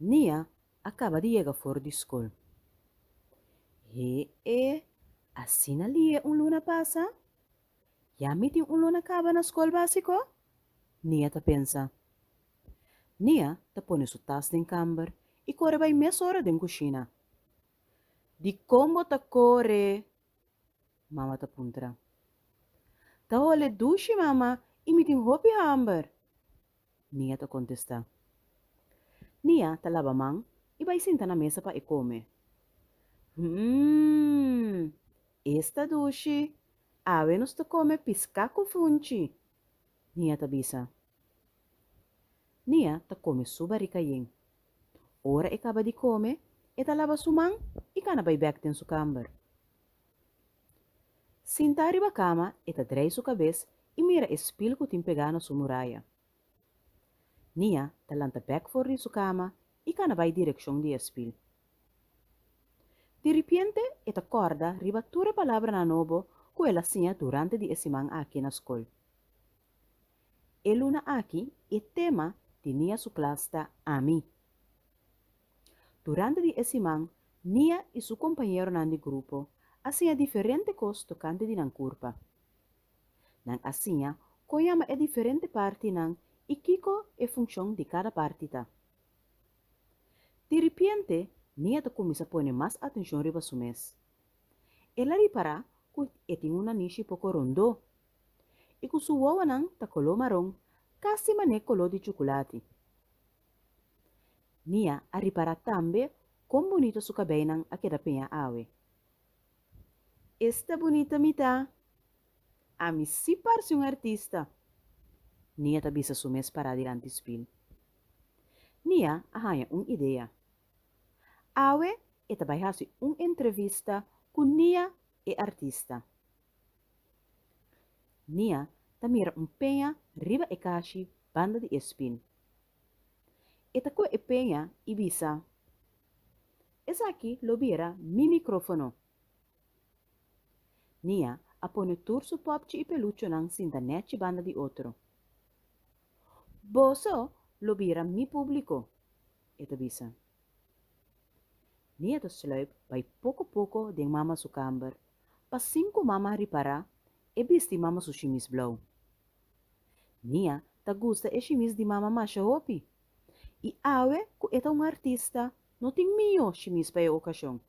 Nia a kaba di yega for di skol. He e, asina Lie un luna pasa? Ya mi tin un luna kaba na skol básiko? Nia ta pensa. Nia ta pone su tas den kamber i kore bai mesora den kushina. Dikon bo ta kore? Mama ta puntra. Ta hole dushi, mama, i mi tin hopi hamber. Nia ta kontestá. Nia ta laba man i bai sinta na mesa pa e kome. Hmmm! Es ta dushi! Awe nos ta kome piská ku funchi! Nia ta bisa. Nia ta kome su barika yen. Ora e kaba di kome, e ta laba su man i kana bai bèk den su kamber. Sintá riba kama, e ta drai su kabes i mira e spil ku tin pegá na su muraya. Nia ta lanta bèk for di su kama i kana bai direkshon di e spil. Diripiente e ta kòrda riba tur e palabranan nobo ku el a siña durante di e siman aki na skol. E luna aki e tema di Nia su klas ta Ami. Durante di e siman Nia i su kompañeronan di grupo a siña diferente kos tokante di nan kurpa. Nan a siña kon yama e diferente partinan i kiko e funshon di kada parti ta. Di ripiente Nia ta kuminsá pone mas atenshon riba su mes. El a ripará ku e tin un nanishi poko rondó i ku su wowonan ta koló maron, kasi man'é koló di chukulati. Nia a ripará tambe kon bunito su kabeinan a keda peña awe. Esta bunita mi ta! Ami si parse un artista! Nia ta bisa su mes pará dilanti spil. Nia a haña un idea. Awe e ta bai hasi un entrevista ku Nia e artista. Nia ta mira un peña riba e kashi banda di e spil. E ta koe e peña i bisa, Esaki lo bira mi mikrofono. Mia a pone tur su popchi i peluchonan sinta nechi banda di otro. Boso lo bira mi públiko, e ta bisa. Mia ta sluip bai poko poko den mama su kamber, pasin ku mama a ripará e bisti mama su shimis blou. Nia ta gusta e shimis di mama masha hopi i awe ku e ta un artista no tin mihó shimis pa e okashon.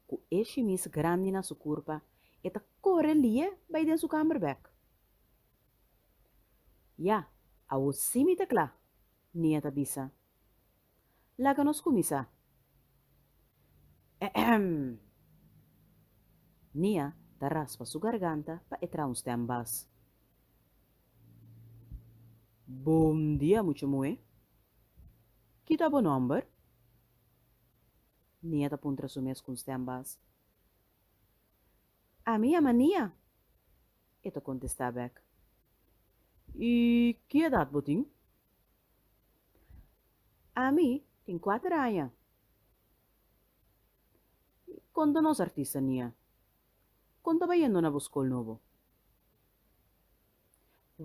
Ku e shimis grandi na su kurpa e ta kore li'e bai den su kamber bèk. Ya, awor sí mi ta kla, Nia ta bisa. Laga nos kuminsá. Ehem! Nia ta raspa su garganta pa e traha un stèm bas. Bon dia mucha muhé. Ki ta bo nòmber? Nia ta puntra su mes ku un stèm bas. Ami yama Nia, e ta kontestá bèk. I ki edat bo tin? Ami tin kuater aña i kon ta nos artistania? Kon ta bai yendo na bo skol nobo?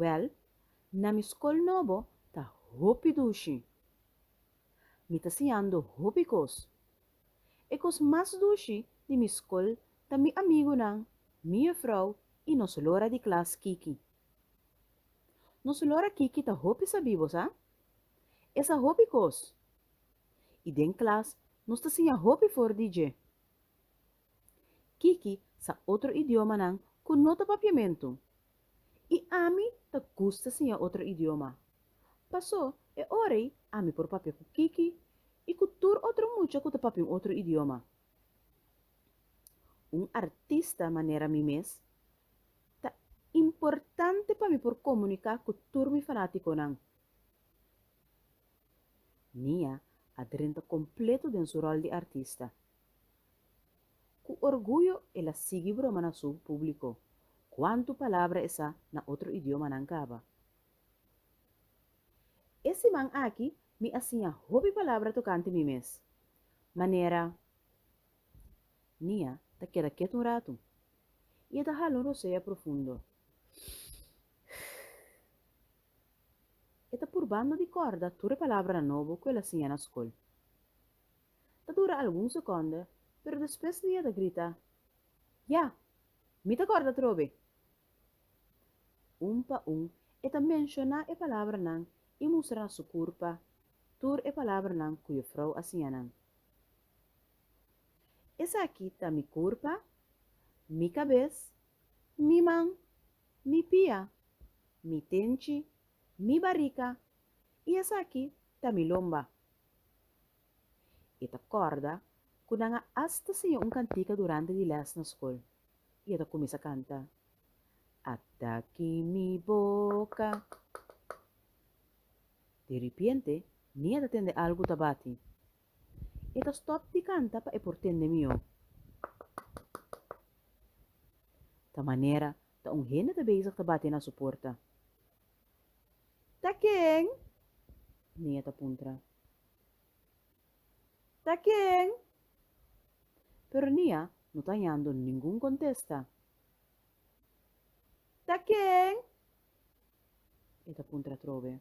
Wèl, na mi skol nobo ta hopi dushi. Mi ta siñando hopi kos. E kos mas dushi di mi skol ta mi amigunan, mi yefrou i nos lora di klas Kiki. Nos Señor aki ki ta hopi sabibo, sa? E sa hopi kos. I den klas nos ta siña hopi for di dje. Kiki sa otro idiomanan ku no ta papiamentu, i ami ta gusta siña otro idioma. Pasó e ora ei ami por papia ku Kiki i ku tur otro mucha ku ta papia un otro idioma. Un artista manera mi mes, Ta importante pa mi por comunica cu tur mi fanaticonan. Nia a drenta completo den su rol di artista. Cu orguyo el a sigui broma na su publico, cuantu palabra e sa na otro idiomanan caba. E siman aki mi a siña hopi palabra tocante mi mes, manera Nia ta keda kiet un ratu i e ta hala un rosea profundo. E ta purbando di korda tur e palabranan nobo ku el a siña na skol. Ta dura algun sekonda, pero despues Nia ta grita, Ya! Mi ta korda atrobe! Un pa un e ta menshoná e palabranan i mustra na su kurpa tur e palabranan ku Jufrou a siña nan. Esaki ta mi kurpa, mi kabes, mi man, mi pia, mi tenchi, mi barika, i esaki ta mi lomba. E ta kòrda ku nan a asta siña un kantika durante di lès na skol, i e ta kuminsá kanta, Ata ki mi boka. Di ripiente, mi a ta tende algu ta bati. E ta stop di canta pa e por tende mi o. Ta manera ta un hende ta bezig ta bate na su porta. Ta ken? Nea ta puntra. Ta ken? Pero Nea no ta hañando ningun contesta. Ta ken? E ta puntra atrobe.